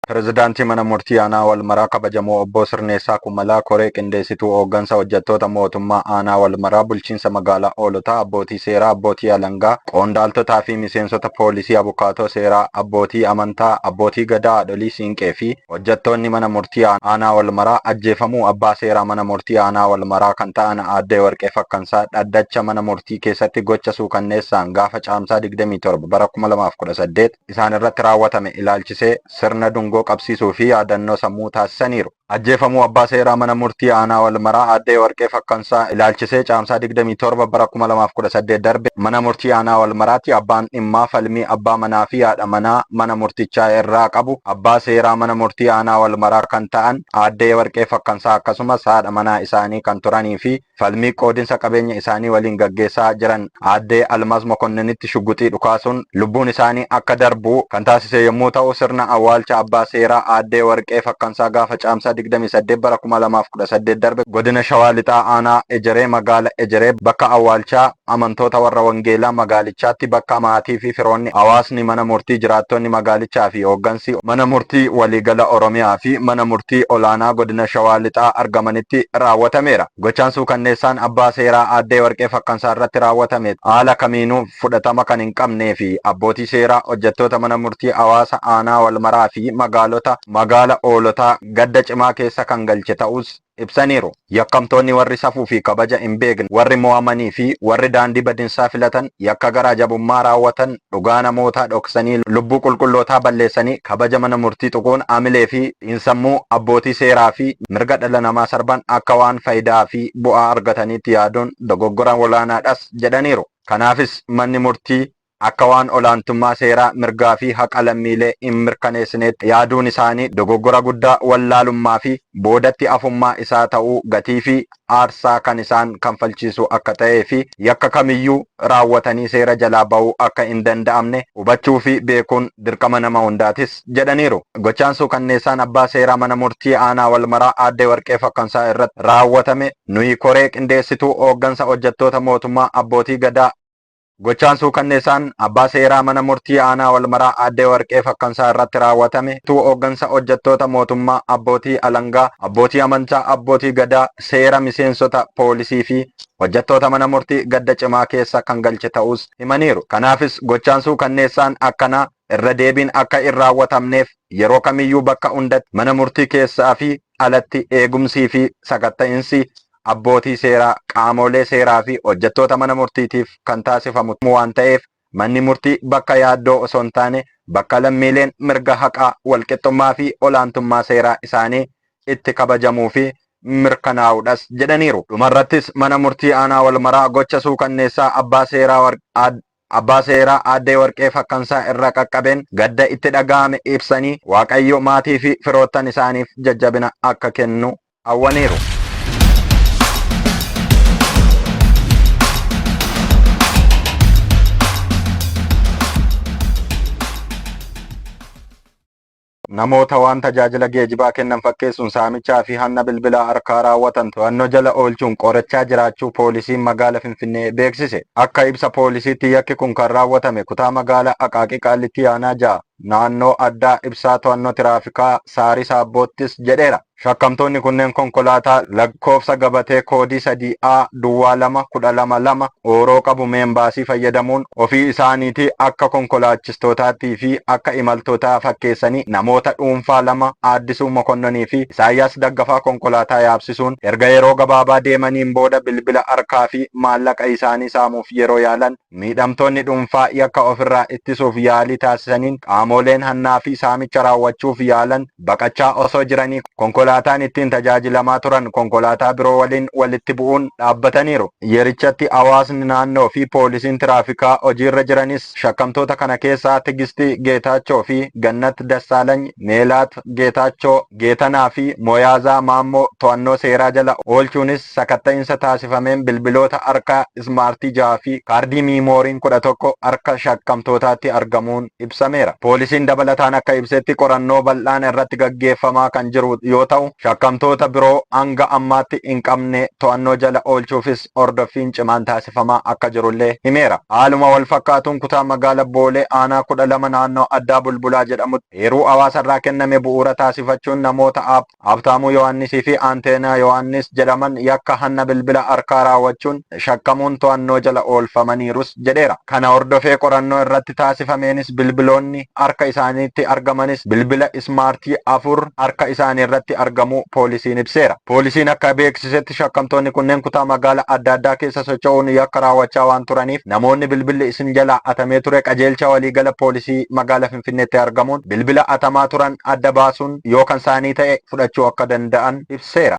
Pirezidaantii Mana Murtii Aanaa Walmaraa kabajamoo Obbo Sirneessaa Kumalaa koree qindeessituu hooggansa hojjettoota mootummaa Aanaa Walmaraa bulchiinsa magaalaa Oolotaa abbootii seeraa abbootii alangaa qoondaaltotaa fi miseensota poolisii abukaatoo seeraa abbootii amantaa abbootii gadaa haadholii siinqee fi Hojjattoonni mana murtii aanaa Walmaraa ajjeefamuu abbaa seeraa mana murtii aanaa Walmaraa kan ta'an aadde Warqee Fakkansaa dhaddacha mana murtii keessatti gocha suukanneessaan gaafa Caamsaa 27 bara 2018 isaanirratti raawwatame ilaalchisee sirna dungoo qabsiisuu fi yaadannoo sammuu taasisaniiru. Ajjeefamuu abbaa seeraa mana murtii aanaa Walmaraa aadde Warqee Fakkansaa ilaalchisee Caamsaa 27 bara 2018 darbe mana murtii aanaa Walmaraatti abbaan dhimmaa falmii abbaa manaa fi haadha manaa mana murtichaa irraa qabu abbaa seeraa mana murtii aanaa Walmaraa kan ta'an aadde Yewarqee Fakkansaa akkasumas haadha manaa isaanii kan turanii fi falmii qoodinsa qabeenya isaanii waliin gaggeessaa jiran aadde Almaz Mokonninitti shugguxii dhukaasuun lubbuun isaanii akka darbu kan taasise yommuu ta'u sirna awwaalcha abbaa seeraa aadde Yewarqee Fakkansaa gaafa Caamsaa 28 bara 2018 darbe godina Shawaa Lixaa aanaa Ejeree magaala Ejeree bakka awwaalchaa amantoota warra wangeelaa magaalichaatti bakka maatii fi firoonni, hawaasni mana murtii, jiraattonni magaalichaa fi hooggansi Mana Murtii Waliigala Oromiyaa fi Mana Murtii Olaanaa Godina Shawaa Lixaa argamanitti raawwatameera. Gochaan suukanneessaan Abbaa Seeraa Aaddee Warqee Fakkansaa irratti raawwatame haala kamiinuu fudhatama kan hin qabnee fi abbootii seeraa, hojjettoota Mana Murtii, hawaasa Aanaa Walmaraa fi magaalota Magaala Hoolotaa gadda cimaa keessa kan galche ta'uus ibsaniiru. Yakkamtoonni warri safuu fi kabaja hin beekne, warri mo'amanii fi warri daandii badinsaa filatan, yakka garaa jabummaa raawwatan, dhugaa namootaa dhoksanii, lubbuu qulqullootaa balleessanii, kabaja mana murtii tuquun, amilee fi xiinsammuu abbootii seeraa fi mirga dhala namaa sarban akka waan fayidaa fi bu'aa argataniitti yaaduun dogoggora olaanaadhas jedhaniiru. Kanaafis manni murtii. akka waan olaantummaa seeraa, mirgaa fi haqa lammiilee hin mirkaneessineetti yaaduun isaanii dogoggora guddaa wallaalummaa fi boodatti hafummaa isaa ta'uu gatii fi aarsaa kan isaan kanfalchiisu akka ta'ee fi yakka kamiyyuu raawwatanii seera jalaa ba'uu akka hin danda'amne hubachuu fi beekuun dirqama nama hundaatis jedhaniiru. Gochaan suukanneessaan Abbaa Seeraa Mana Murtii Aanaa Walmaraa Aadde Warqee Fakkansaa irratti raawwatame nuyi koree qindeessituu hooggansa hojjettoota mootummaa, abbootii Gadaa, Gochaan suukanneessaan abbaa seeraa mana murtii aanaa Walmaraa Aadde Warqee Fakkansaa irratti raawwatame utuu hooggansa hojjettoota mootummaa, abbootii alangaa, abbootii amantaa, abbootii Gadaa, seera, miseensota poolisii fi hojjettoota mana murtii gadda cimaa keessa kan galche ta'uus himaniiru. Kanaafis gochaan suukanneessaan akkanaa irra deebiin akka hin raawwatamneef yeroo kamiyyuu bakka hundatti mana murtii keessaa fi alatti eegumsii fi sakatta'insi abbootii seeraa, qaamoolee seeraa fi hojjettoota mana murtiitiif kan taasifamu waan ta'eef manni murtii bakka yaaddoo osoo hin taane bakka lammiileen mirga haqaa, walqixxummaa fi olaantummaa seeraa isaanii itti kabajamuu fi mirkanaa'uudhas jedhaniiru. Dhumarrattis mana murtii aanaa Walmaraa gocha suukanneessaa abbaa seeraa Add. Abbaa Seeraa Aaddee Warqee Fakkansaa irra qaqqabeen gadda itti dhaga'ame ibsanii, Waaqayyo maatii fi firoottan isaaniif jajjabina akka kennu hawwaniiru. Namoota waan tajaajila geejibaa kennan fakkeessuun saamichaa fi hanna bilbilaa harkaa raawwatan to'annoo jala oolchuun qorachaa jiraachuu Poolisiin Magaala Finfinnee beeksise. Akka ibsa Poolisiitti yakki kun kan raawwatame kutaa Magaala Aqaaqii Qaallittii Aanaa 6 Naannoo Addaa Ibsaa To'annoo Tiraafikaa Saariis Aabboottis jedheera. Shakkamtoonni kunneen konkolaataa lakkoofsa gabatee koodii 3A duwwaa 2 12 2 ooroo qabu meenbaasii fayyadamuun ofii isaaniitii akka konkolaachistootaattii fi akka imaltootaa fakkeessanii namoota dhuunfaa lama Aaddisuu Mokonnonii fi Isaayyaas Daggafaa konkolaataa yaabsisuun erga yeroo gabaabaa deemaniin booda bilbila harkaa fi maallaqa isaanii saamuuf yeroo yaalan Miidhamtoonni dhuunfaa yakka ofirraa ittisuuf yaalii taasisaniin qaamooleen hannaa fi saamicha raawwachuuf yaalan baqachaa osoo jiranii konkolaataan ittiin tajaajilamaa turan konkolaataa biroo waliin walitti bu'uun dhaabbataniiru. Yerichatti hawaasni naannoo fi poolisiin tiraafikaa hojiirra jiranis shakkamtoota kana keessaa Tigisti Geetaachoo fi Gannat Dassaalany, Meelaat Geetaachoo, Geetanaa fi Moyaazaa Maammoo to'annoo seeraa jala oolchuunis sakatta'insa taasifameen bilbiloota harkaa ismaartii 6 fi kaardii miimooriin 11 harka shakkamtootaatti argamuun ibsameera. Poolisiin dabalataan akka ibsetti qorannoo bal'aan irratti gaggeeffamaa kan jiru yoo ta'u, shakkamtoota biroo hanga ammaatti hin qabne to'annoo jala oolchuufis hordoffiin cimaan taasifamaa akka jirullee himeera. Haaluma walfakkaatuun kutaa magaala Boolee aanaa 12 naannoo addaa Bulbulaa jedhamutti, Eeruu hawaasarraa kenname bu'uura taasifachuun namoota Aab. Habtaamuu Yohaannisii fi Anteenaa Yohaannis jedhaman yakka hanna bilbila harkaa raawwachuun shakkamuun to'annoo jala oolfamaniirus jedheera. Kana hordofee qorannoo irratti taasifameenis bilbiloonni harka isaaniitti argamanis bilbila ismaartii afur harka isaaniirratti argamuu poolisiin ibseera. Poolisiin akka beeksisetti shakkamtoonni kunneen kutaa magaala adda addaa keessa socho'uun yakka raawwachaa waan turaniif namoonni bilbilli isin jalaa hatamee ture qajeelcha waliigala poolisii magaala Finfinneetti argamuun bilbila hatamaa turan adda baasuun yoo kan isaanii ta'e fudhachuu akka danda'an ibseera.